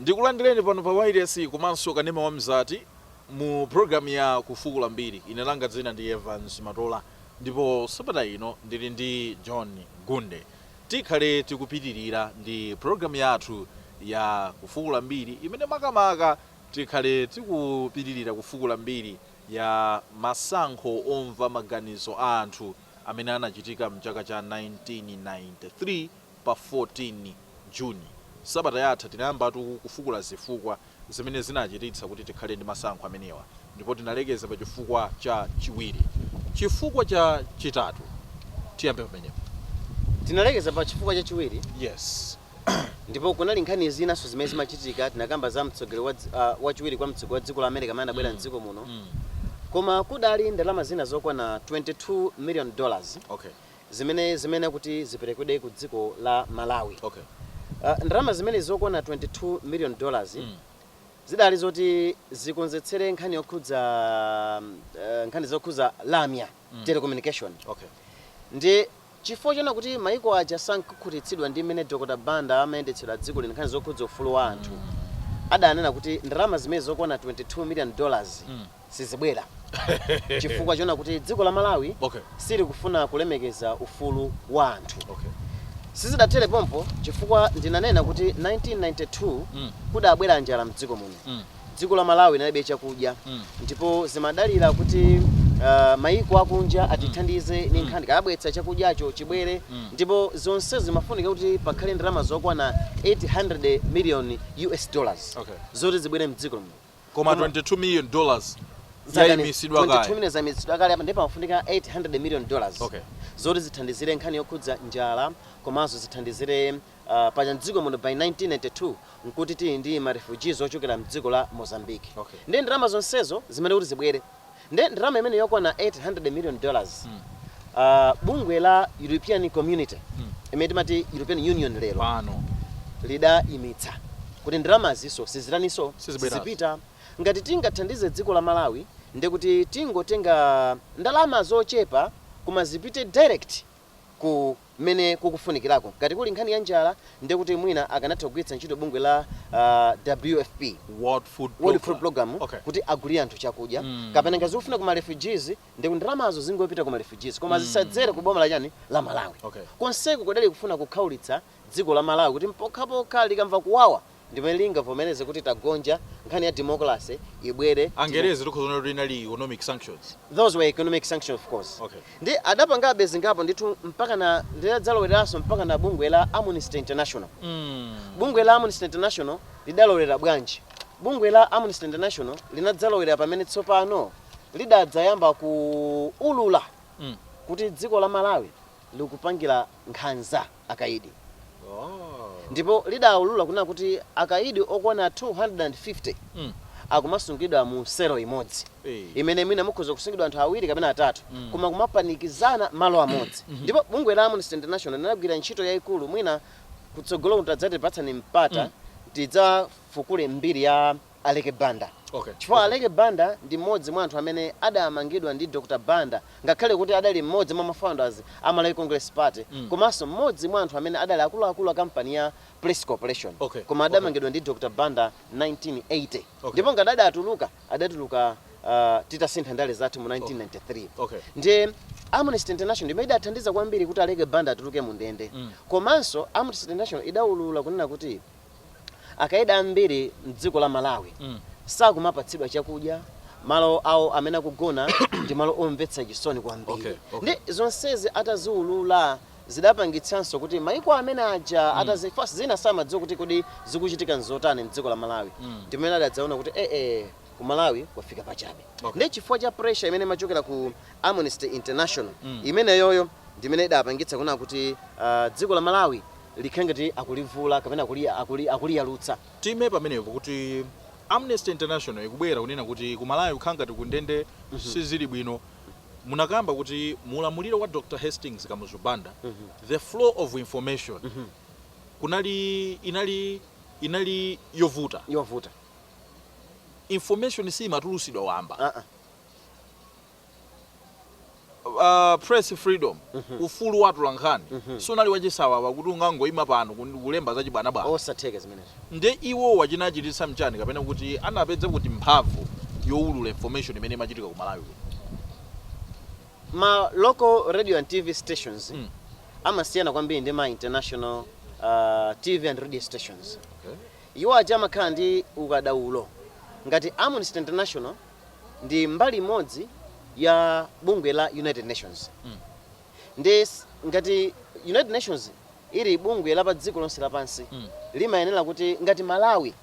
ndikulandireni pano pa wailesi komanso kanema wa mzati mu programu ya kufukula mbiri ine langa dzina ndi evans matola ndipo sabata ino ndili ndi john gunde Tikhale tikupitilira ndi program yathu ya kufukula mbiri imene makamaka tikhale tikupitilira kufukula mbiri ya masankho omva maganizo a anthu amene anachitika mchaka cha 1993 pa 14 June. Sabata yatha tinayambatu kufukula zifukwa. zimene zinachititsa kuti tikhale ndi masankho amenewa ndipo tinalekeza pa chifukwa cha chiwiri. Chifukwa cha chitatu, tiyambe pamenepo. Tinalekeza pa chifukwa cha chiwiri. Yes. Ndipo kunali nkhani zinanso zimene zimachitika, tinakamba za mtsogoleri wa dzi, a, wachiwiri kwa mtsogoleri wa dziko la America amene anabwera m'dziko muno. Koma kudali ndalama zina zokwana 22 million dollars Okay. zimene zimayenera kuti ziperekedwe ku dziko la Malawi. Okay. Ndalama zimenezi zokwana 22 million dollars zidali zoti zikonzetsere nkhani yokhudza nkhani zokhudza lamya, telecommunication. Okay. Ndiye chifukwa choona kuti maiko aja sankakhutitsidwa ndi mmene Dr Banda amayendetsera dziko lino nkhani zokhudza ufulu wa anthu adanena kuti ndalama zimenezi zokwana 22 million dollars sizibwera chifukwa chona kuti dziko la malawi okay. silikufuna kulemekeza ufulu wa anthu okay. sizidathere pompo chifukwa ndinanena kuti 1992 mm. kudabwera njala mdziko muno mm. dziko la malawi linalibe chakudya mm. ndipo zimadalira kuti Uh, eh, maiko akunja atithandize mm. ni nkhani kabwetsa chakudyacho chibwere mm. ndipo zonsezo zimafunika kuti pakhale ndalama zokwana 800 million US dollars okay. zoti zibwere mdziko muno Koma Koma- 22 million dollars Zakani- yaimitsidwa 22 kale. million zaimitsidwa kale apa ndiye pamafunika 800 million dollars Okay. zoti zithandizire nkhani yokhudza njala komanso zithandizire uh, paja mdziko muno by 1992 nkuti tili ndi marefugees ochokera mdziko la mozambique Okay. ndiye ndalama zonsezo zimayenera kuti zibwere Nde ndalama imeneyi yokwana 800 million dollars uh, bungwe la European Community imene timati European Union lero pano lidaimitsa kuti ndalamaziso sizitaninso Sizibweranso. sizipita ngati tingathandize dziko la malawi ndekuti tingotenga ndalama zochepa koma zipite direct ku mmene kukufunikirako. Ngati kuli nkhani ya njala, ndiye kuti mwina akanatha kugwiritsa ntchito bungwe la WFP, World Food World Food Program, Program, okay. kuti agulire anthu chakudya. Mm. Kapena ngati zikufunika ku ma refugees, ndiye kuti ndalamazo zingopita ku ma refugees, koma zisadzere ku boma la chani la Malawi. Okay. Konseku kudali kufuna kukhaulitsa dziko la Malawi kuti pokhapokha likamva kuwawa ndimene lingavomereze kuti tagonja, nkhani ya democracy ibwere, demo. Angerezi tikhoza kunena kuti inali economic sanctions? Those were economic sanctions of course. Okay. Ndi adapangabe zingapo ndithu mpakana lidadzalowereranso mpakana bungwe la Amnesty International. Bungwe la Amnesty International lidalowera bwanji? Bungwe la Amnesty International linadzalowerera pamene tsopano lidadzayamba kuulula kuti dziko la Malawi likupangira nkhanza. akaidi ndipo lidaulula kunena kuti akaidi okwana 250 akumasungidwa mu selo imodzi imene mwina mukhoza kusungidwa anthu awiri kapena atatu koma kumapanikizana malo amodzi ndipo bungwe la Amnesty International linagwira ntchito yaikulu mwina kutsogolo kuno mukadzatipatsa mpata tidzafukule mbiri ya Aleke Banda okay chifukwa okay. Aleke Banda ndi mmodzi mwa anthu amene adamangidwa ndi Dr Banda ngakhale kuti adali mmodzi mwa ma founders a Malawi Congress Party mm. komanso mmodzi mwa anthu amene adali akuluakulu a kampani ya Press Corporation okay. koma adamangidwa okay. ndi Dr Banda 1980 okay. ndipo ngati adatuluka adatuluka uh, titasintha ndale zathu mu 1993 okay. ndiye Amnesty International imene idathandiza kwambiri kuti Aleke Banda atuluke mu ndende mm. komanso Amnesty International idaulula kunena kuti Akaidi ambiri mdziko la Malawi sakumapatsidwa chakudya, malo awo amene akugona ndi malo omvetsa chisoni kwambiri nde zonsezi ataziulula zidapangitsanso kuti maiko amene aja atazifasa zina samadziwa kuti kodi zikuchitika nzotani mdziko la Malawi ndipamene adadzaona kuti eeh ku Malawi kwafika pachabe nde chifukwa cha pressure imene imachokera ku Amnesty International imeneyoyo ndimene idapangitsa kunena kuti aah dziko la Malawi likhale ngati akulivula kapena akuliyalutsa. Tiime pamenepo kuti Amnesty International ikubwera kunena kuti ku Malawi kukhala ngati ku ndende sizili bwino. Munakamba kuti mu ulamuliro wa Dr Hastings Kamuzu Banda the flow of information kunali inali inali yovuta. Yovuta. Information simatulusidwa wamba. Uh-uh. a press freedom ufulu wa atolankhani sunali wachisawawa kuti ungangoima pano kun- kulemba zachibwanabwana osatheka zimenezo nde iwowa chinachititsa mchani kapena kuti anapeza kuti mphamvu yowulula information imene imachitika ku malawi kuno ma local radio and tv stations Mm. amasiyana kwambiri ndi ma international uh, tv and radio stations iwo aja amakhala ndi ukadaulo ngati amnesty international ndi mbali imodzi ya bungwe la United Nations mm. ndi ngati United Nations ili bungwe la pa dziko lonse lapansi mm. limayenera kuti ngati Malawi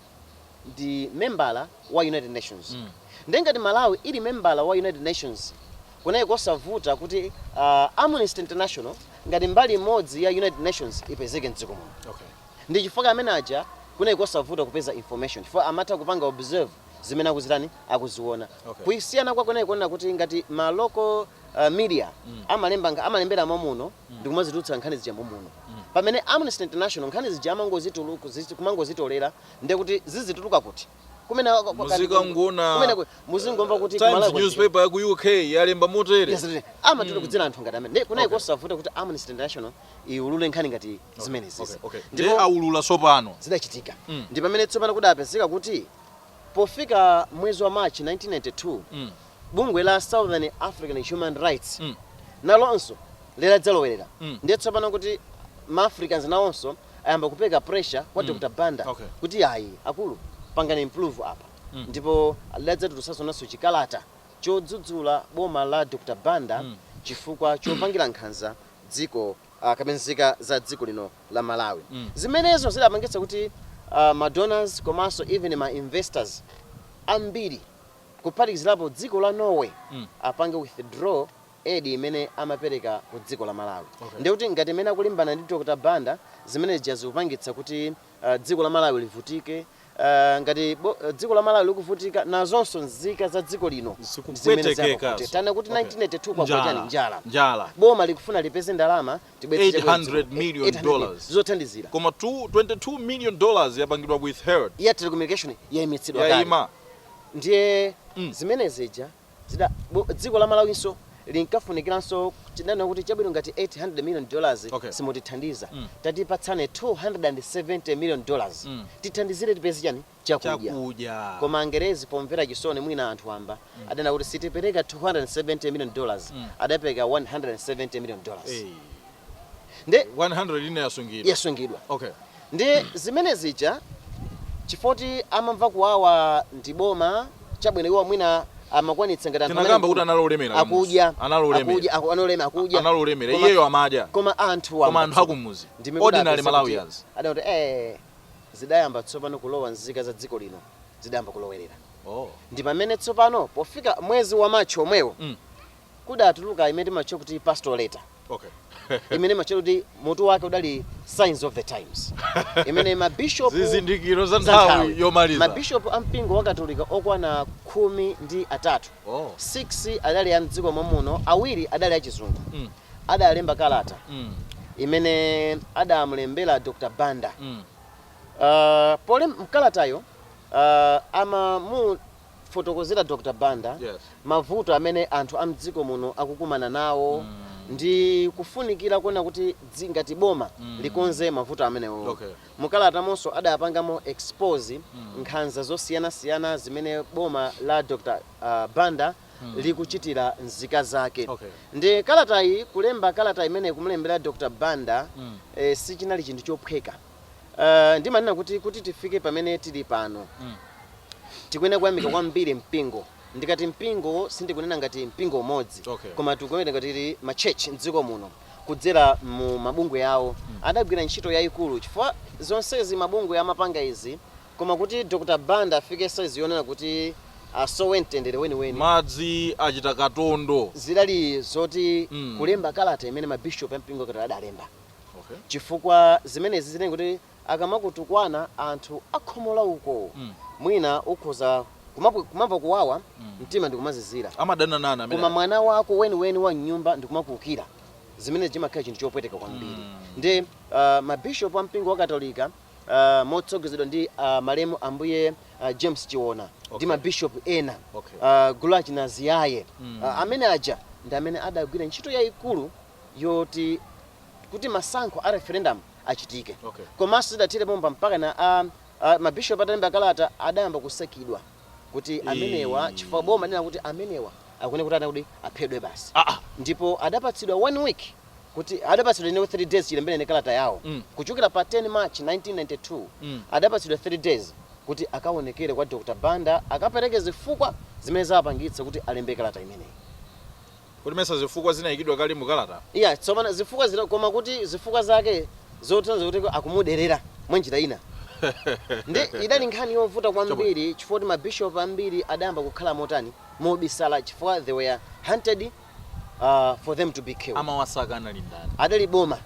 ndi membala wa United Nations mm. ndi ngati Malawi ili membala wa United Nations kunali kosavuta kuti uh, Amnesty International ngati mbali imodzi ya United Nations ipezeke mdziko muno okay. ndi chifukwa amene aja kunali kosavuta kupeza information chifukwa amatha kupanga observe zimene akuzitani akuziona Okay. kusiyana kwake kunali koona kuti ngati ma local uh, media amalemba nkha- amalembera momuno ndi kumazitulutsa nkhani zija momuno pamene amnesty international nkhani zija amangozitulu- kuzi- kumangozitolera ndi kuti zizituluka kuti kumene kwa- kwa- Muzika kumene- nguna- kumene ku- muzingomva kuti times kumalawi kuchita- newspaper ya ku uk yalemba motere Yes, yes. amatolera kudzera anthu ngati amene Ndi- kunali Okay. kosavuta kuti amnesty international iwulule nkhani ngati zimenezizi Okay. Ndipo- Ndipo aulula tsopano. zidachitika Mm. ndi pamene tsopano kudapezeka kuti pofika mwezi wa march 1992 Mm. bungwe la southern african human rights Mm. nalonso lidadzalowerera Mm. ndiye tsopano kuti maafricans nawonso ayamba kupereka pressure kwa dr banda Okay. kuti ayi akulu pangani improve apa Mm. ndipo lidadzatulutsanso nalonso chikalata chodzudzula boma la dr banda Mm. chifukwa chopangira nkhanza dziko ah, kapena nzika za dziko lino la malawi Mm. zimenezo zidapangitsa kuti ah, ma donors komanso even ma investors ambiri kuphatikizirapo dziko la norway Mm. apange withdraw aid imene amapereka ku dziko la malawi Okay. ndiye kuti ngati mmene akulimbana ndi dr banda zimene zija zikupangitsa kuti Dziko la Malawi livutike ngati dziko la Malawi likuvutika nazonso nzika za dziko lino zimene zapapute tanena kuti 1982 kwagwa chani njala njala boma likufuna lipeze ndalama tibweretse 800 million dollars zothandizira koma 22 million dollars yapangidwa withheld ya telecommunication yaimitsidwa kale ndiye mm. zimene zija Zida, bo, dziko la Malawinso linkafunikiranso tidanena kuti chabwino ngati 800 million dollars Okay. simutithandiza Mm. tatipatsani 270 million dollars Mm. tithandizire tipeze chani chakudya chakudya koma angerezi pomvera chisoni mwina anthu wamba adanena kuti sitipereka 270 million dollars Mm. adapereka 170 million dollars Eh, nde 100 ine yasungidwa yasungidwa okay Ndi zimene zija chifoti amamva kuwawa ndi boma chabwino iwo mwina amakwanitsa ngati anthu amene kuti anali olemera akudya anali olemera akudya anali olemera akudya anali olemera iyeyo amadya koma anthu wa koma anthu akumudzi ordinary malawians adati eh zidayamba tsopano kulowa nzika za dziko lino zidayamba kulowerera oh ndi pamene tsopano pofika mwezi wa March omwewo mm. kudatuluka imene timatchula kuti pastoral letter okay. imene imatchula kuti mutu wake udali signs of the times imene mabishop zizindikiro za nthawi yomaliza mabishop a mpingo wa katolika okwana khumi ndi atatu oh. 6 adali a mdziko mwa muno awiri adali achizungu mm. adalemba kalata mm. imene adamulembera dr banda mm. uh, pole mkalatayo uh, amamu Fotokozera Dr Banda Yes. mavuto amene anthu a mdziko muno akukumana nawo ndi kufunikira kuona kuti dzi ngati boma likonze mavuto amenewowo. Okay. Mu kalatamonso adapangamo expose nkhanza zosiyanasiyana zimene boma la Dr ah, Banda likuchitira nzika zake. Okay. Ndiye kalatayi kulemba kalata imeneyi kumulembera Dr Banda eh, sichinali chinthu chophweka. Uh, ndimanena kuti kuti tifike pamene tili pano mm. tikuyenera kuyamika kwambiri mpingo ndikati mpingo sindikunena ngati mpingo umodzi okay. koma tikuyenera ngati ma church mdziko muno kudzera mu mabungwe yawo mm. adagwira ntchito yayikulu chifukwa zonsezi mabungwe amapanga izi koma kuti Dr. Banda afike size yonena kuti asowe mtendere weniweni madzi achita katondo zidali zoti mm. kulemba kalata imene mabishop a mpingo wa katolika adalemba Okay. chifukwa zimenezi zinali kuti akamakutukwana anthu a khomo la uko Mm. mwina ukhoza kumapu- kumamva kuwawa Mm. mtima ndikumazizira Amadana nana amene. koma mwana wako weniweni wa mnyumba ndikumakuukira zimenezi chimakhala chinthu chopweteka kwambiri Mm. ndiye uh, mabishop a mpingo wa katolika uh, motsogozedwa ndi uh, malemu ambuye uh, james chiona ndi Okay. mabishop ena Okay. uh, gulu achina ziyaye Mm. uh, amene aja ndi amene adagwira ntchito yayikulu yoti kuti masankho a referendum achitike okay. Komanso zidathere pompa mpaka na a, a, mabishop atalemba kalata adayamba kusakidwa kuti amenewa chifukwa boma linena kuti amenewa akuyenera kuti kuti aphedwe basi ah, ah. ndipo adapatsidwa one week kuti adapatsidwa inewo 3 days chilemberene kalata yawo mm. kuchokera pa 10 march 1992 mm. adapatsidwa 3 days kuti akaonekere kwa dr banda akapereke zifukwa zimene zawapangitsa kuti alembe kalata imeneyi Kodi mesa zifukwa zinayikidwa kale mu kalata? Iya, tsopano zifukwa zina koma kuti zifukwa zake zotanthauza kuti akumuderera mwa njira ina. Ndiye idali nkhani yovuta kwambiri chifukwa kuti ma bishop ambiri adayamba kukhala motani, mobisala chifukwa they were hunted for them to be killed. Amawasaka anali ndani? Adali boma.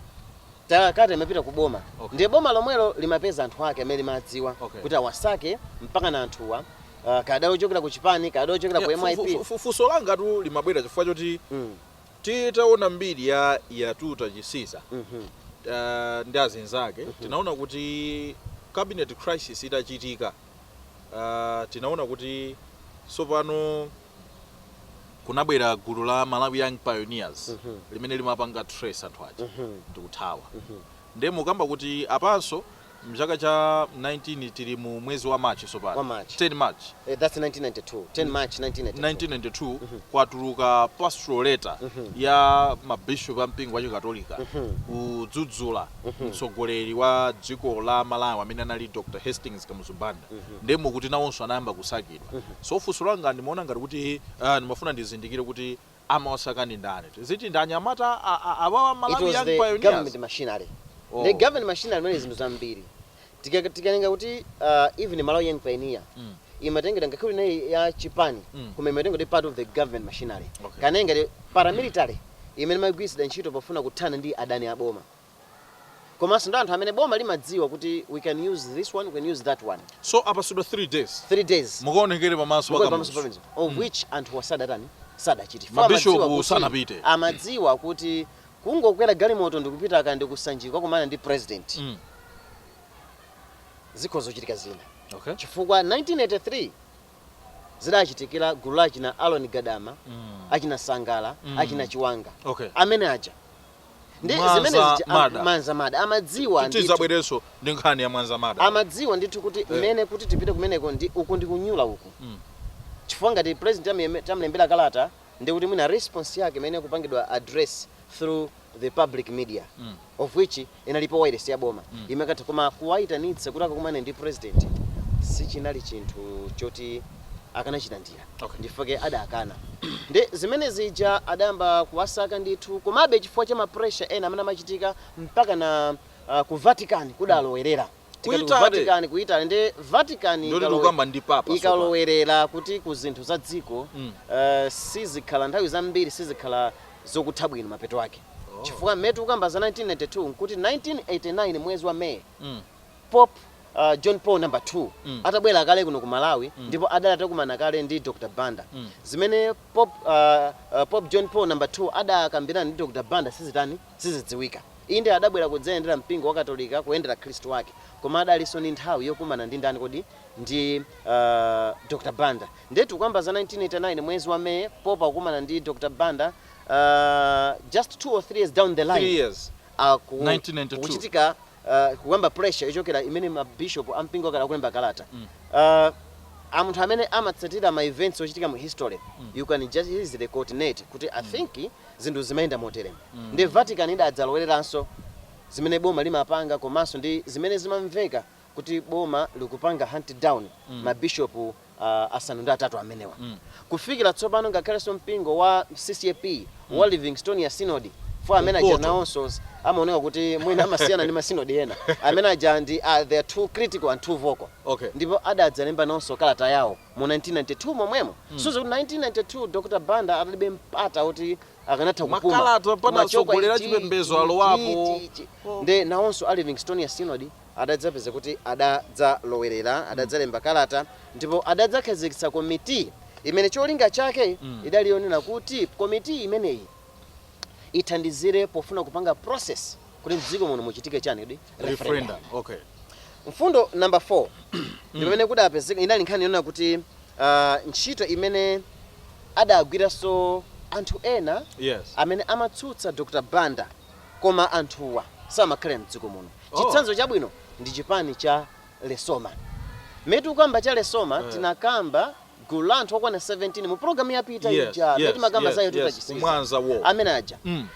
Kalata imapita ku boma. Okay. Ndiye boma lomwelo limapeza anthu ake amene limadziwa Okay. kuti awasake mpakana anthuwa ah, kaya adali ochokera ku chipani kaya adali ochokera ku Yeah, fu- fu- myp fu- funso langa tu limabwera chifukwa choti Mm, titaona mbiri ya Yatuta Chisiza mhm, uh, ndi azinzake tinaona kuti cabinet crisis itachitika uh, tinaona kuti tsopano kunabwera gulu la malawi young pioneers Mhm. limene limapanga trace anthu aja mhm, ndikuthawa mhm. nde mukamba kuti apanso Mchaka cha 19 tili mu mwezi wa March tsopano. Wa March. 10 March. Eh, that's 1992. 10 March 1992. 1992 kwatuluka pastoral letter ya ma bishop a mpingo wa Chikatolika kudzudzula mtsogoleri wa dziko la Malawi amene anali Dr. Hastings Kamuzu Banda. Ndiye mukuti nawonso anayamba kusakidwa. So funso langa ndimaona ngati kuti ah, ndimafuna ndizindikire kuti Amawasaka ndi ndani? Tiziti ndi anyamata a a awawa a Malawi was young the pioneers? government machinery. The Oh. government machinery munali zinthu zambiri. Tika- Tikanena kuti uh, even Malawi Young Pioneer Mm. imatengedwa ngakhale kuti inali ya chipani Mm. koma imatengedwa kuti part of the government machinery. Okay. Kunena ngati paramilitary imene imagwiritsidwa ntchito pofuna kuthana ndi adani a boma. komanso ndi anthu amene boma limadziwa kuti we can use this one, we can use that one. So apatsidwa 3 days. 3 days. Mukaonekere pamaso pa kamuzu. Mukaonekere pamaso pa kamuzu. Of mm. which anthuwa sadatani sadapite. Mabishopu sanapite. Amadziwa kuti kungokwera galimoto ndikupita akanati ku Sanjika kukumana ndi president. Mm. Zikhoza kuchitika zina. Okay. Chifukwa 1983 zidachitikira gulu la achina Aaron Gadama mm. achina Sangala mm. achina Chiwanga okay. amene aja ndi Mwanza zimene zija am- Murder. Mwanza murder amadziwa ndithu. tidzabwerenso ndi nkhani ya Mwanza murder amadziwa ndithu kuti mmene kuti tipite kumeneko ndi uku ndi kuyitana uku Mm. chifukwa ngati president amyeme- tamlembera kalata ndi kuti mwina response yake imene kupangidwa address through the public media Mm. of which inalipo wireless ya boma Mm. imene ikanatha koma kuwayitanitsa kuti akakumane ndi president sichinali chinthu choti akanachilandira Okay. Ndichifukwa adakana. Ndiye zimene zija adayamba kuwasaka ndithu komabe chifukwa cha ma pressure ena amene amachitika mpakana uh, ku Vatican kudalowerera. Ku Tikati ku Italy. Vatican ku Italy ndiye Vatican Ndiye ikalowe- tikukamba ndi papa tsopano. ikalowerera kuti ku zinthu za dziko Mm. uh, sizikhala nthawi zambiri sizikhala zokutha bwino mapeto ake Oh. chifukwa mmene tikukamba za 1992 nkuti 1989 mwezi wa May Mm. Pope John Paul number 2 atabwera kale kuno ku Malawi ndipo adali atakumana kale ndi Dr Banda, zimene Pope Pope John Paul number 2 adakambirana ndi Dr Banda sizitani, sizidziwika. Inde adabwera kudzayendera mpingo wa Katolika kuyendera akhristu ake koma adalinso ndi nthawi yokumana ndi ndani kodi? Ndi Dr Banda. Ndiye tikukamba za 1989 mwezi wa May Pope akukumana ndi Dr Banda just two or three years down the line, 3 years, 1992. kukuchitika uh, kuyamba pressure yochokera imene mabishopu a mpingo wa katolika alemba kalata uh, amunthu amene amatsatira ma events ochitika mu history you can just easily coordinate kuti i think zinthu zimayenda moteremu ndi vatican idadzalowereranso zimene boma limapanga komanso ndi zimene zimamveka kuti boma likupanga hunt down mabishopu uh, asanu ndi atatu amenewa mm. kufikira tsopano ngakhalenso mpingo wa ccap mm. wa livingstonia synod for amene aja nawonso amaoneka kuti mwina amasiyana ndi masinodi ena amene aja ndi uh, they are too critical and too vocal okay. ndipo adadzalemba nawonso kalata yawo mu 1992 momwemo mm. so kuti 1992 dr banda adalibe mpata kuti akanatha kupuma makalata pano atsogoleri achipembedzo alowapo nde nawonso a livingstonia synod adadzapeza kuti adadzalowerera, adadzalemba kalata ndipo adadzakhazikitsa komiti imene cholinga chake idali yonena kuti komiti imeneyi ithandizire pofuna kupanga process kuti mdziko muno muchitike chani kodi referendum Referendum. Okay. mfundo number 4 ndipamene kudapezeka inali nkhani yonena kuti ah, ntchito imene adagwiranso anthu ena Yes. amene amatsutsa dr banda Koma anthuwa samakhala mdziko muno. Chitsanzo chabwino ndi chipani cha Lesoma. Mmene tikukamba cha Lesoma tinakamba gulu la anthu okwana 17 mu program yapita ija Yes, mmene yes, timakamba za yes, Yatuta yes, Chisiza. Mwanza war. Amene aja. Mm.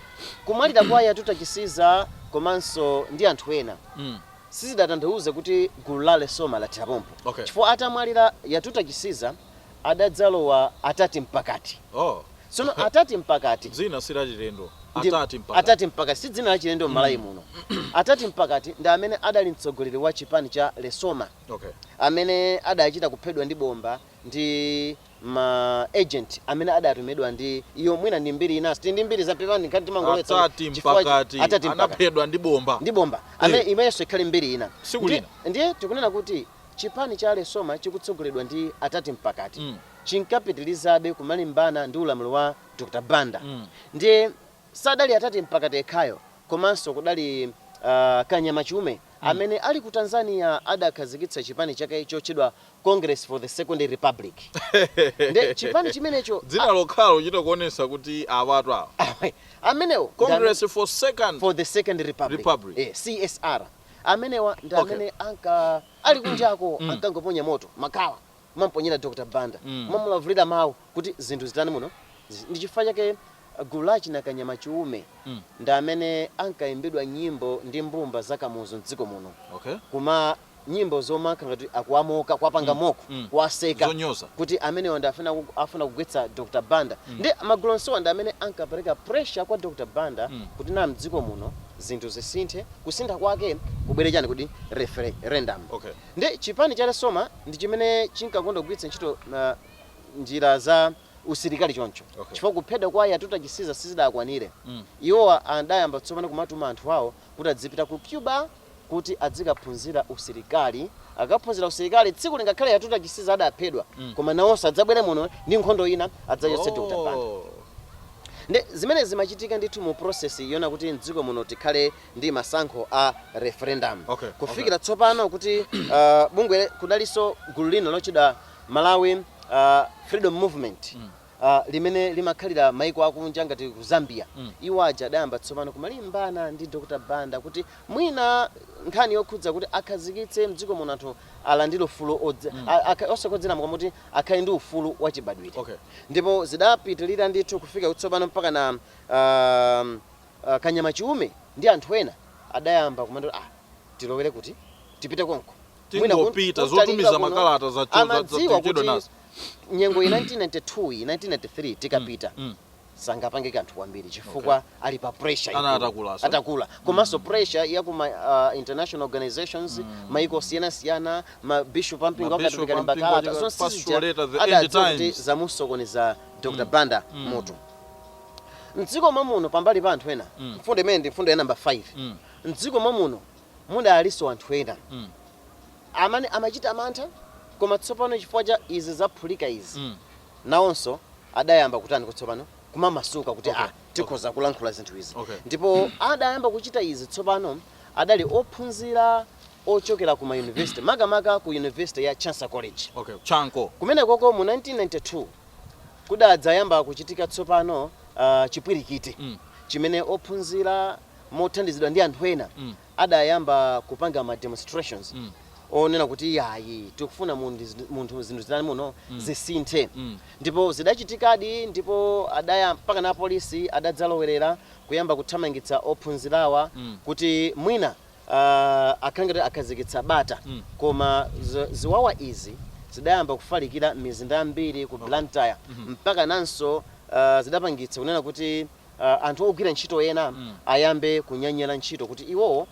Kumwalira kwa Yatuta Chisiza komanso ndi anthu ena Mm. sizidatanthauze kuti gulu la Lesoma lathera pompo. Okay. Chifukwa atamwalira Yatuta Chisiza adadzalowa Atati Mpakati. Oh. Tsono Atati Mpakati. Dzina si lachilendo. Ndi Atati Mpakati. Atati Mpakati si dzina lachilendo m'Malawi muno. Atati Mpakati ndi amene adali mtsogoleri wa chipani cha Lesoma. Okay. Amene adachita kuphedwa ndi bomba ndi ma agent amene adatumidwa ndi iyo mwina ndi mbiri inanso. Tili ndi mbiri za pepani nkhani timangolowetsa. Atati Mpakati. Atati Mpakati. Anaphedwa ndi bomba. Ndi bomba. Amene imenenso ikhale mbiri ina. Tsiku lina. Ndiye tikunena kuti Chipani cha Lesoma chikutsogoleredwa ndi Atati Mpakati chinkapitilizabe kumalimbana ndi ulamuliro wa Dr Banda ndiye sadali Atati Mpakati ekhayo komanso kudali a Kanyama Chiume amene ali ku Tanzania adakhazikitsa chipani chake chotchedwa Congress for the Second Republic ndiye chipani chimenecho Dzina a, lokhalo kuchita kuonesa kuti awatu awa. awe, amenewo ndi amene, Congress for Second for the Second Republic, Republic. eh, CSR. Amenewa ndi Okay. amene anka ali kunjako Mm. ankangoponya moto, makala, kumamponyera Dr. Banda, Mm. kumamulavulira mawu kuti zinthu zitani muno. Zi- Ndi chifukwa chake uh, gulu la achina Kanyama Chiume Mm. ndi amene ankaimbidwa nyimbo ndi mbumba za Kamuzu m'dziko muno Okay. koma nyimbo zomakhala ngati akuwamoka kuwapanga mock mm. kuwaseka Zonyoza. kuti amenewa ndi afuna ku- afuna kugwetsa dr banda ndi magulu onsewa ndi amene ankapereka pressure kwa dr banda kuti na mdziko muno zinthu zisinthe kusintha kwake kubwere chani kuti referendum okay nde chipani cha lesoma ndi chimene chinkakonda kugwiritsa ntchito uh, njira za usilikali choncho okay chifukwa kuphedwa kwa yatuta chisiza sizidakwanire mm. iwowa adayamba tsopano kumatuma anthu awo kuti adzipita ku cuba kuti adzikaphunzira usilikali akaphunzira usilikali tsiku lina ngakhale yatuta chisiza adaphedwa mm. koma nawonso adzabwere muno ndi nkhondo ina adzachotse oh. Dr. Banda nde zimene zimachitika ndithu mu process yonena kuti mdziko muno tikhale ndi masankho a referendum okay, kufikira okay. tsopano kuti uh, bungwe kudalinso gulu lina lotchedwa Malawi uh, Freedom Movement mm. ah, limene limakhalira maiko akunja ngati ku zambia Mm. iwo aja adayamba tsopano kumalimbana ndi dr banda kuti mwina nkhani yokhudza kuti akhazikitse mdziko muno anthu alandire ufulu odzi- Mm. a- akha- osagonjeramo koma kuti akhale ndi ufulu wachibadwire Okay. ndipo zidapitirira ndithu kufika kutsopano mpakana um, uh, kanyama chiume ndi anthu ena adayamba kumati ah, tilowere kuti tipite konko mwina kun- Tingopita, kuntalika zotumiza kuno, makalata za- za- amadziwa za- tichedwa kuti nazo. nyengo iyi 1992 iyi 1993 tikapita mm. sangapange kanthu kwambiri chifukwa ali pa pressure Ana ikulu. atakula, so. atakula komanso pressure ya kuma uh, international organizations maiko osiyanasiyana ma bishop ampingo Ma bishop achikatolika ampingo makalata achika- zonse pastoral sizija letter, the end adadziwa kuti times. zamusokoneza dr banda mutu mdziko mwamuno pambali pa anthu ena mfundo imene ndi mfundo ya namba 5 mdziko mwamuno Mudalinso anthu ena mm. amene amachita mantha, koma tsopano chifukwa cha izi zaphulika izi mm. nawonso adayamba kutaniko tsopano kumamasuka kuti okay. ah, tikhoza okay. kulankhula zinthu izi okay. ndipo mm. adayamba kuchita izi tsopano adali ophunzira ochokera ku mayunivesiti makamaka ku yunivesiti ya Chancellor College okay. chanco kumenekoko mu 1992 kudadzayamba kuchitika tsopano uh, chipwirikiti mm. chimene ophunzira mothandizidwa ndi anthu ena adayamba kupanga ma demonstrations onena kuti iyayi tikufuna mundi- munthu zinthu zitani muno zisinthe ndipo zidachitikadi ndipo adaya mpakana apolisi adadzalowerera kuyamba kuthamangitsa ophunzirawa kuti mwina ah, akhale ngati akhazikitsa bata koma zi- ziwawa izi zidayamba kufalikira m'mizinda yambiri ku blantyre mpakananso ah, zidapangitsa kunena kuti uh, anthu ogwira ntchito ena mm. ayambe kunyanyala ntchito kuti iwowo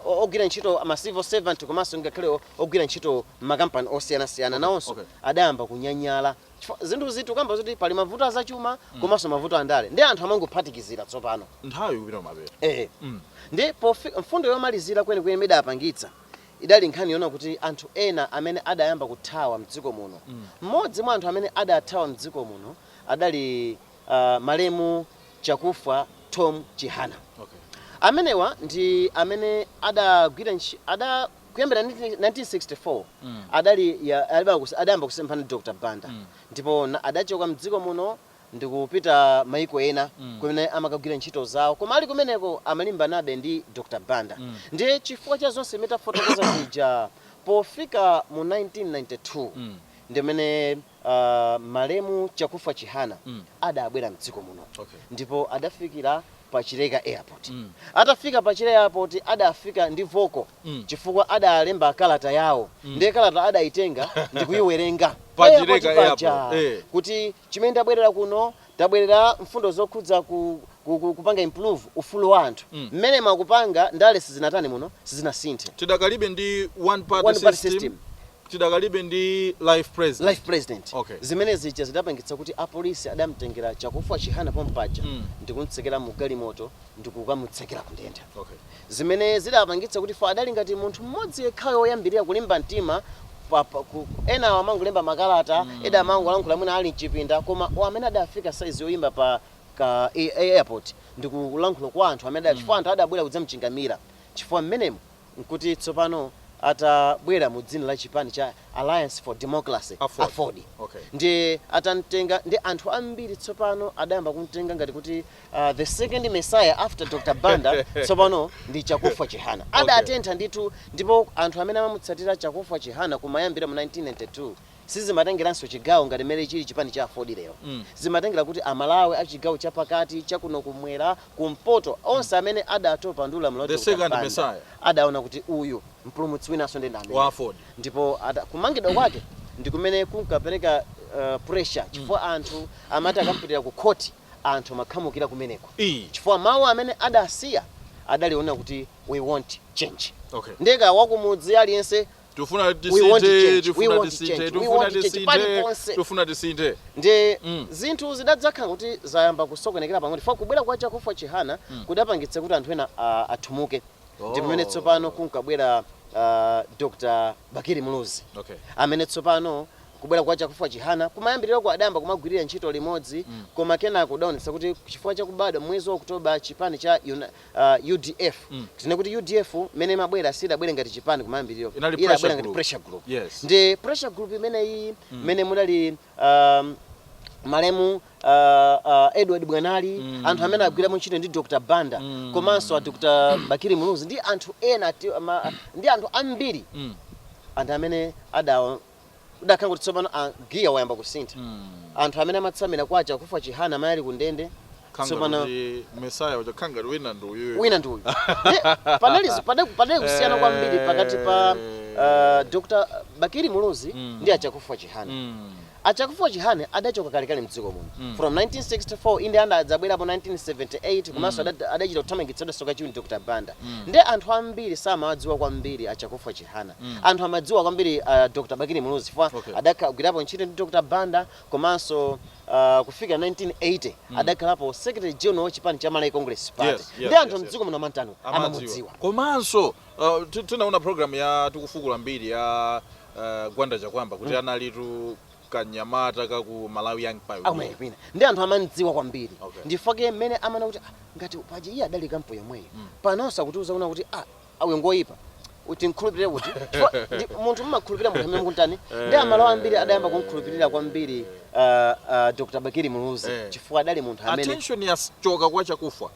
uh, ogwira ntchito ma civil servant komanso ngakhale ogwira ntchito m'makampani osiyanasiyana okay. nawonso okay. adayamba kunyanyala zinthu izitu kamba zoti pali mavuto azachuma mm. komanso mavuto andale nde anthu amangophatikizira tsopano nthawi ikupita mabere eh. mm. nde mfundo yomalizira kwenikweni imene idapangitsa idali nkhani yonena kuti anthu ena amene adayamba kuthawa mdziko muno mm. mmodzi mm. mwa anthu amene adathawa mdziko muno adali malemu Chakufwa Thom Chihana. Amenewa ndi amene adagwira, ada- kuyambira 1964 adali adayamba kusemphana ndi Dr Banda ndipo adachoka mdziko muno ndikupita maiko ena kumene amakagwira ntchito zawo koma ali kumeneko amalimbanabe ndi Dr Banda ndiye chifukwa cha zonse zimene tafotokoza zija pofika mu 1992 ndimene Uh, malemu Chakufwa Chihana mm. adabwera mdziko muno okay. ndipo adafikira pa Chileka airport mm. atafika pa Chileka airport adafika ndi voko mm. chifukwa adalemba kalata yawo mm. ndiye kalata adaitenga ndikuyiwerenga pa Chileka airport eh. kuti chimene tabwerera kuno tabwerera mfundo zokhudza kupanga improve ufulu wa anthu mm. mmene mm. mukupanga ndale sizinatani muno sizinasinthe tidakalibe ndi one party, one party system, system Tidakalibe ndi life president. Life president. Okay. Zimene zija zidapangitsa kuti apolisi adamtengera Chakufwa Chihana pompaja ndikumtsekera mu galimoto ndikukamutsekera ku ndende. Okay. Zimene zidapangitsa kuti chifukwa adali ngati munthu mmodzi yekhayo woyambirira kulimba mtima pa, pa, ku, ku, enawo amangolemba makalata, ena amangolankhula mwina ali mchipinda koma amene adafika size yoyimba pa ka a- a- airport ndikulankhula kwa anthu amene adali chifukwa anthu adabwera kudzamchingamira chifukwa mmenemo nkuti tsopano atabwera mu dzina la chipani cha Alliance for Democracy, aford, ndiye atamtenga ndiye anthu ambiri tsopano adayamba kumtenga ngati kuti the second messiah after Dr Banda tsopano ndi Chakufwa Chihana. Adatentha ndithu ndipo anthu amene amamutsatira Chakufwa Chihana kumayambira mu 1992, Sizimatengeranso chigawo ngati mmene chili chipani cha aford lero. Zimatengera kuti a Malawi a chigawo cha pakati, cha kuno ku mmwera, ku mpoto, onse amene adatopa ndi ulamuliro wa Dr Banda adaona kuti uyu mpulumutsi winanso ndi ameneyu. Ndipo kumangidwa kwake ndi kumene kunkapereka pressure chifukwa anthu amati akamupitira ku khoti anthu amakhamukira kumeneko chifukwa mawu amene adasiya adali onena kuti we want change. Ndiye kaya wakumudzi aliyense tufuna We want to tisinthe change. We tufuna want to tisinthe change. We tufuna want to change. tisinthe Paliponse. tufuna tisinthe ndi Mm. zinthu zidadzakhala kuti zayamba kusokonekera pang'ono chifukwa kubwera kwa chakufwa chihana kudapangitsa kuti anthu ena ah, athumuke ndi pamene Oh. tsopano kunkabwera ah, dr bakili muluzi okay amene tsopano kubwera kwa chakufwa chihana kumayambiriroko adayamba kumagwirira ntchito limodzi koma kenako kudaonetsa kuti chifukwa chakubadwa mwezi wa oktoba chipani cha Uni- uh, udf mm. tinene kuti udf mmene imabwera sidabwere ngati chipani kumayambiriro idabwera ngati pressure group yes. ndi pressure group imeneyi mm. mmene mudali um, malemu uh, uh, Edward Bwanali mm. anthu amene agwirapo ntchito ndi Dr. Banda mm. komanso a Dr. Bakili Muluzi ndi anthu ena ndi anthu ambiri mm. anthu amene udakhala kuti tsopano ah, giya wayamba kusintha Mm. anthu amene amatsamira kwa chakufa chihana amene ali ku ndende Khanga tsopano kuti Messiah uja khanga kuti wina ndi uyu. wina ndi uyu Ye, panali zi- pada- padali kusiyana kwambiri pakati pa uh, dr bakili muluzi Mm. ndi achakufa chihana Mm. achakufa chihana adachoka kalekale mdziko muno Mm. from 1964 inde anda adzabwerapo 1978 komanso ada- adachita kuthamangitsidwanso kachiwiri ndi dr banda Mm. ndiye anthu ambiri samawadziwa kwambiri achakufa chihana mm. anthu amadziwa kwambiri uh, Dr. Bakili Muluzi chifukwa okay. adakagwirapo ntchito ndi Dr. Banda komanso uh, kufika 1980 mm. adakhalapo secretary general wa chipani cha Malawi Congress Party yes, yes, ndiye anthu yes, mdziko yes. muno amatani amamudziwa komanso uh, tinaona program ya tikufukula mbiri ya uh, Gwanda Chakwamba kuti mm. analitu kanyamata kaku Malawi Young Pioneer ndiye anthu amamdziwa kwambiri okay. ndifake mmene amanena kuti ah, ngati paje iye adali camp yomweyo mm. panonso akutiuza kunena kuti ah awo ngoyipa timkhulupirire kuti Chifukwa ndi- munthu mmakhulupirira munthu amene mukuntani ndiye amalawi ambiri adayamba kumkhulupirira kwambiri ah, ah, dr bakili muluzi Eh. chifukwa adali munthu amene attention yachoka kwa chakufa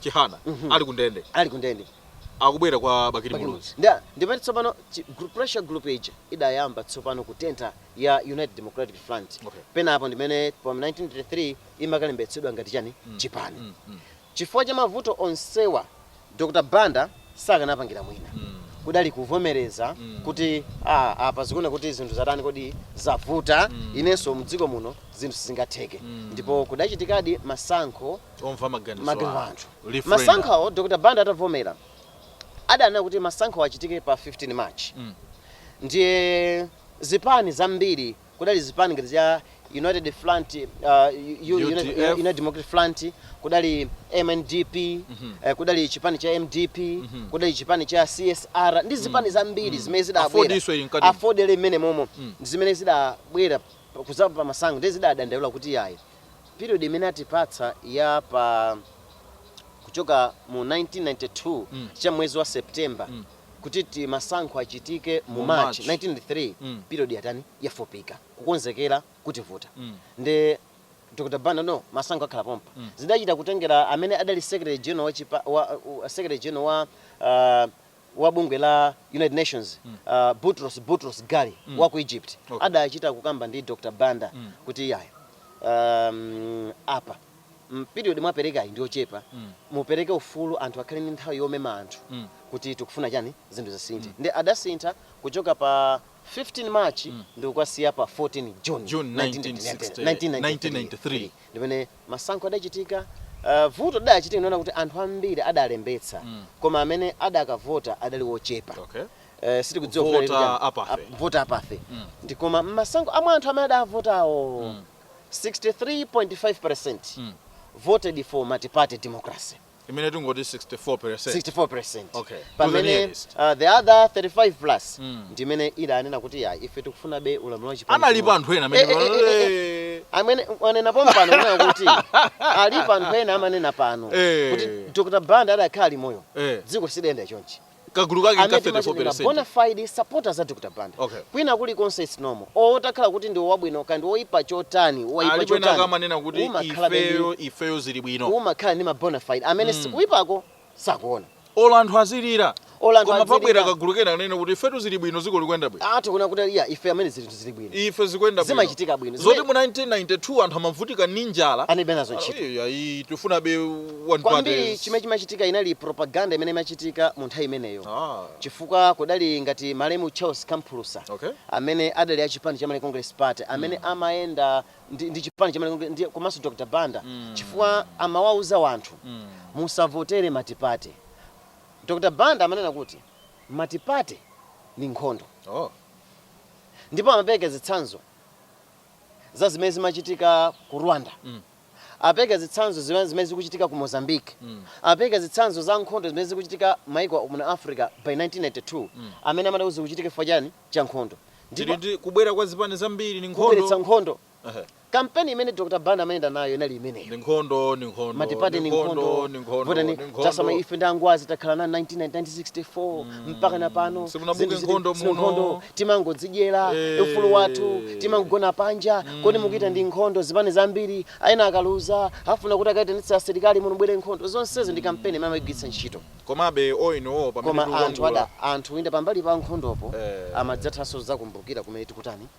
chihana ali kundende ali kundende akubwera kwa bakili muluzi Nda- ndipo tsopano chi- gru- pressure group ija idayamba tsopano kutentha ya united democratic front Okay. penapo ndimene pa 1933 imakalembetsedwa ngati chani chipani Chifukwa cha mavuto onsewa Dr Banda sakanapangira mwina kudali kuvomereza kuti aah apa zikuoneka kuti zinthu zatani kodi zavuta inenso mdziko muno zinthu sizingatheke ndipo kudachitikadi masankho Omva maganizo maganizo a a anthu. anthu Referendum. Masankhowo Dr Banda atavomera adanena kuti masankhowo achitike pa 15 March ndiye zipani zambiri kudali zipani ngati za United Front, uh, U- U- United, UDF. United Democratic Front, kudali MNDP, eh, kudali chipani cha MDP, kudali chipani cha CSR ndi zipani zambiri zimene zidabwera. Afordnso ili mkati. Aford ili mmene momo zimene zidabwera pa- kuzapanga masankho ndiye zidadandaula kuti yayi period imene atipatsa ya pa kuchoka mu 1992 cha mwezi wa September kuti ti masankho achitike mu Mu March March. 1993 Mm. period yatani yafupika kukonzekera kutivuta Mm. ndiye Dr. Banda no masankho akhala pompa Mm. zidachita kutengera amene adali secretary general wa, chipa, wa, wa secretary general wa uh, wa bungwe la United Nations Mm. uh, Boutros Boutros Ghali Mm. wa ku Egypt Okay. adachita kukamba ndi Dr. Banda Mm. kuti yayi um, apa period mwaperekayi ndi yochepa mm. mupereke ufulu anthu akhale ndi nthawi yomema anthu mm. kuti tikufuna chani zinthu zisinthe mm. ndi adasintha kuchoka pa 15 March mm. ndi kukwasiya pa 14 June, June 1993 ndi mmene masankho adachitika Uh, voti idachitika ndinaona kuti anthu ambiri adalembetsa mm. koma amene adakavota adali wochepa okay. Uh, sitikudziwa voter apathy, voter apathy. Mm. ndiye koma masankho amwe anthu amene adavotawo mm. 63.5 percent voted for multiparty democracy imene tingoti 64 percent 64 percent Okay. To the pamene nearest. uh, the other 35 plus Mm. ndimene idanena kuti ya ife tikufunabe ulamuliro wa chipani analipo chimodzi." anthu ena Eh, eh, eh, eh, eh. amene amene mwanena pompano kunena kuti alipo anthu ena amanena pano Eh. kuti dr banda akadakhala ali moyo Eh. dziko silikuyenda chonchi kagulu kake amene nka timati ndi ma 34 bona fide supporters a dr banda Okay. kwina kulikonse its normal o takhala kuti ndi wabwino ka ndi woyipa chotani woyipa alipo ena chotani akamanena kuti umakhala ndi- ifeyo ifeyo zili bwino umakhala ndi ma bona fide amene zikuyipako sakuona olo anthu azilira Olo anthu koma azilira. pabwera kagulu kena kunena kuti ifetu zili bwino dziko likuyenda bwino anthu kunena kuti ya ife amene zili zinthu zili bwino ife zikuyenda bwino zimachitika bwino zoti mu 1992 anthu amavutika ndi njala analibe nazo ntchito Ayi, ayi tifunabe one kwambiri party. chimene chimachitika inali propaganda imene imachitika mu nthawi imeneyo ah chifukwa kudali ngati malemu charles kamphulusa okay amene adali a chipani cha Malawi congress party amene amayenda ndi, ndi chipani cha Malawi Congress- ndi- komanso dr banda Mm. chifukwa amawauza wanthu mm. musavotere matipate dr banda amanena kuti matipate ni nkhondo oh ndipo amapereka zitsanzo za zimene zimachitika ku Rwanda, amapereka zitsanzo zimene zikuchitika ku Mozambique, amapereka zitsanzo za nkhondo zimene zikuchitika maiko a muno Africa by 1992 amene amati zikuchitika chifukwa chani? Cha nkhondo. Ndipo Tili ndi kubwera kwa zipani zambiri ndi nkhondo. kubweretsa nkhondo Kampeni imene Dr. Banda amayenda nayo inali imeneyo. Ndi nkhondo, ndi nkhondo, Matipate ndi ndi nkhondo, nkhondo, ndi nkhondo, votani ndi nkhondo. tisamale ife ndi angwazi takhala nawo 1964 mpaka na pano Simunabuke zinthu zili- nkhondo zili muno. nkhondo timangodzidyera Eh. ufulu wathu timangogona panja kodi mukuitana nkhondo zipani zambiri ena akaluza afuna kuti akaitanitse asilikali muno ibwere nkhondo zonsezi ndi kampeni imene amayigwiritsa ntchito komabe oinowo pamene koma anthu tikulankhula- ada anthu inde pambali pa nkhondopo Eh. amadzathanso zakumbukira kumene tikutani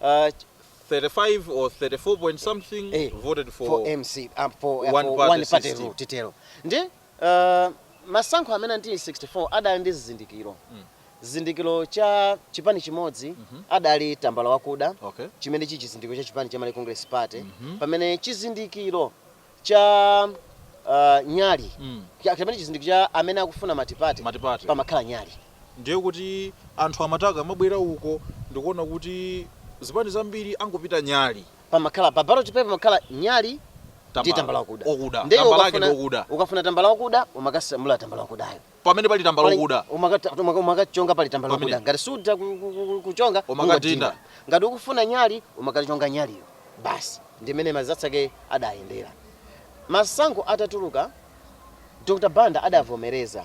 Uh, 35 or 34 point something eh, voted for, for MC um, for, uh, one, for party one party system. rule titero ndi uh, masankho amenewo ndi 64 adali ndi zizindikiro mm. chizindikiro cha chipani chimodzi mm -hmm. adali tambala wakuda okay. chimene chili chizindikiro cha chipani cha Malawi Congress Party mm -hmm. pamene chizindikiro cha a nyali Mm. Cha- kapena chizindikiro cha amene akufuna matipate Matipate. pamakhala nyali ndiye kuti anthu amati akamabwera uko ndikuona kuti zipani zambiri akupita nyali pamakhala pa ballot paper pamakhala nyali ndi tambala wakuda Ndiye tambala lake ukafuna- ndi wakuda ukafuna tambala wakuda umakasamula tambala wakudayo pamene pali tambala Pali- wakuda umakata- umaka- umakachonga pali tambala Pamene. wakuda ngati sutha ku- ku- ku- kuchonga Umakadinda. ungodinda. ngati ukufuna nyali umakachonga nyaliyo basi ndimene m'mazenera ake adayendera masankho atatuluka dr banda adavomereza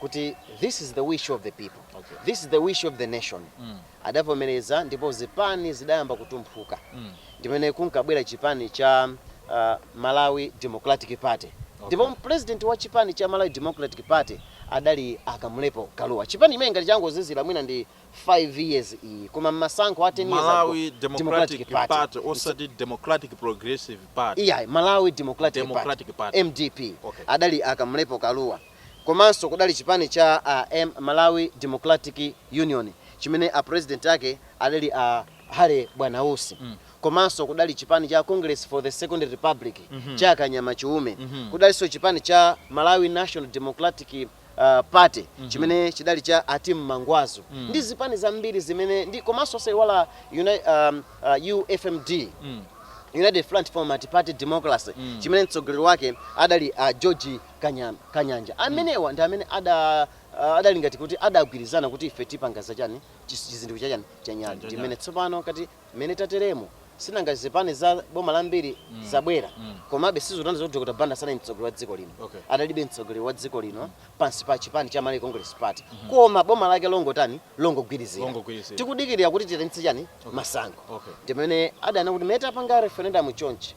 kuti this is the wish of the people Okay. this is the wish of the nation adavomereza ndipo zipani zidayamba kutumphuka ndimene kunkabwera chipani cha Malawi Democratic Party ndipo okay president wa chipani cha Malawi Democratic Party adali a Kamlepo Kalua chipani chimene ngati changozilala mwina ndi 5 years iyi koma mmasankho a 10 years ago Malawi Democratic Democratic Party Party nch osati Democratic Progressive Party iyayi Malawi Democratic Party Democratic Party MDP okay adali a Kamlepo Kalua. komanso kudali chipani cha a Malawi Democratic Union chimene a president ake adali a Harry Bwanausi komanso kudali chipani cha Congress for the Second Republic cha a Kanyama Chiume, kudalinso chipani cha Malawi National Democratic Party chimene chidali cha a Tim Mangwazu ndi zipani zambiri zimene ndi komanso osayiwala UFMD, United Front for Multiparty Democracy, chimene mtsogoleri wake adali a George Kanyama, Kanyanja. Mm. Amenewa ndi amene ada uh, adali ngati kuti adagwirizana kuti ife tipanga za chani chis- chizindikiro cha chani cha nyali. Cha Ndi nyali. mmene tsopano kati mmene tateremo sinanga zipani za boma zambiri Mm. zabwera Mm. komabe sizotanthauza kuti Dr. Banda sanali mtsogoleri wa dziko lino Okay. adalibe mtsogoleri wa dziko lino pansi pa chipani cha Malawi Congress Party koma boma lake longotani longogwirizira Longogwirizira. tikudikirira kuti tichititse chani masankho Okay. ndimene adanena kuti mmene tapanga referendum chonchi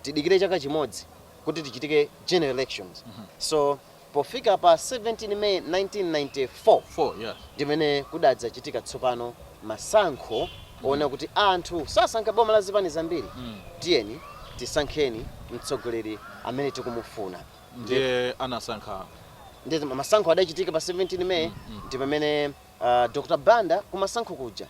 tidikire chaka chimodzi kuti tichite general elections so pofika pa 17 may 1994 Four, yes. ndimene kudadzachitika tsopano masankho oona kuti anthu asankha boma la zipani zambiri tiyeni tisankheni mtsogoleri amene tikumufuna ndiye anasankha ndiye masankho adachitika pa 17 may ndi pamene uh, dr banda kumasankho kuja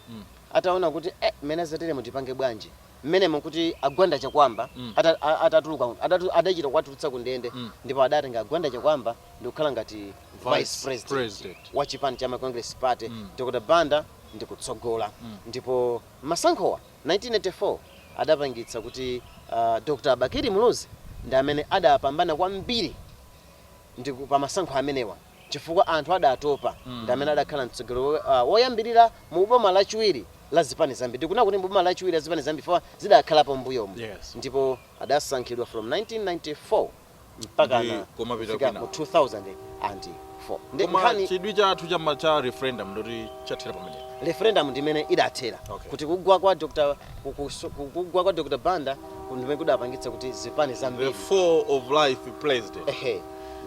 ataona kuti eh, mmene zateremu tipange bwanji mmenemo nkuti a Gwanda Chakuamba Mm. ata- a- atatuluka mu- adatu- adachita kuwatulutsa ku ndende Mm. ndipo adatenga a Gwanda Chakuamba ndikukhala ngati Vice vice president president. wa chipani cha Malawi Congress Party Mm. Dr Banda ndikutsogola Mm. ndipo masankhowa 1984 adapangitsa kuti uh, Dr Bakili Muluzi ndi amene adapambana kwambiri ndiku pa masankho amenewa chifukwa anthu adatopa ndi amene adakhala mtsogoleri woyambirira mu boma lachiwiri la zipani zambiri. Ndikunena kuti mu boma lachiwiri la zipani zambiri chifukwa zidakhalapo m'mbuyomu Yes. ndipo adasankhidwa from 1994 mpaka na kufika mu 2004. koma chidwi chathu cha referendum n'choti chathera pamene referendum ndi imene idathera Okay. kuti kugwa kwa Dr. ku- kuso- ku- kugwa kwa Dr. Banda ndimene kudapangitsa kuti zipani zambiri the fall of life president ehe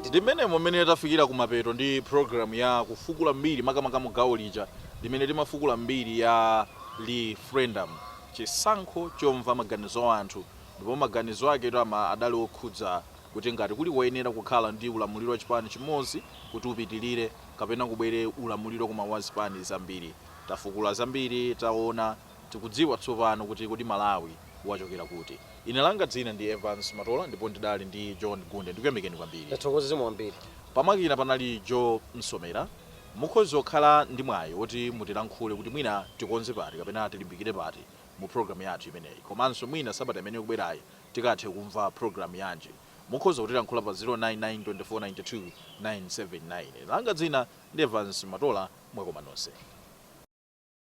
Ndi mmenemo mmene tafikira kumapeto ndi programu ya Kufukula Mbiri, makamaka mu gawo lija limene timafukula mbiri ya liferendamu, chisankho chomva maganizo a anthu, ndipo maganizo aketu amaadali okhudza kuti ngati kuli koyenera kukhala ndi ulamuliro wa chipani chimodzi kuti upitilire kapena kubwere ulamuliro koma wa zipani zambiri. Tafukula zambiri, taona. Tikudziwa tsopano kuti kodi Malawi wachokera kuti. Ine langa dzina ndi Evans Matola ndipo ndidali ndi John Gunde. Ndikuyamikeni kwambiri. Tathokoza zikomo kwambiri. Pamakina panali Joe Msomera. Mukhoza kukhala ndi mwayi woti mutilankhule kuti mwina tikonze pati kapena tilimbikire pati mu program yathu imeneyi komanso mwina sabata imene ikubwerayi tikathe kumva program yanji mukhoza kutilankhula pa 099 2492979. Ine langa dzina ndi Evans Matola. Mwakoma nonse.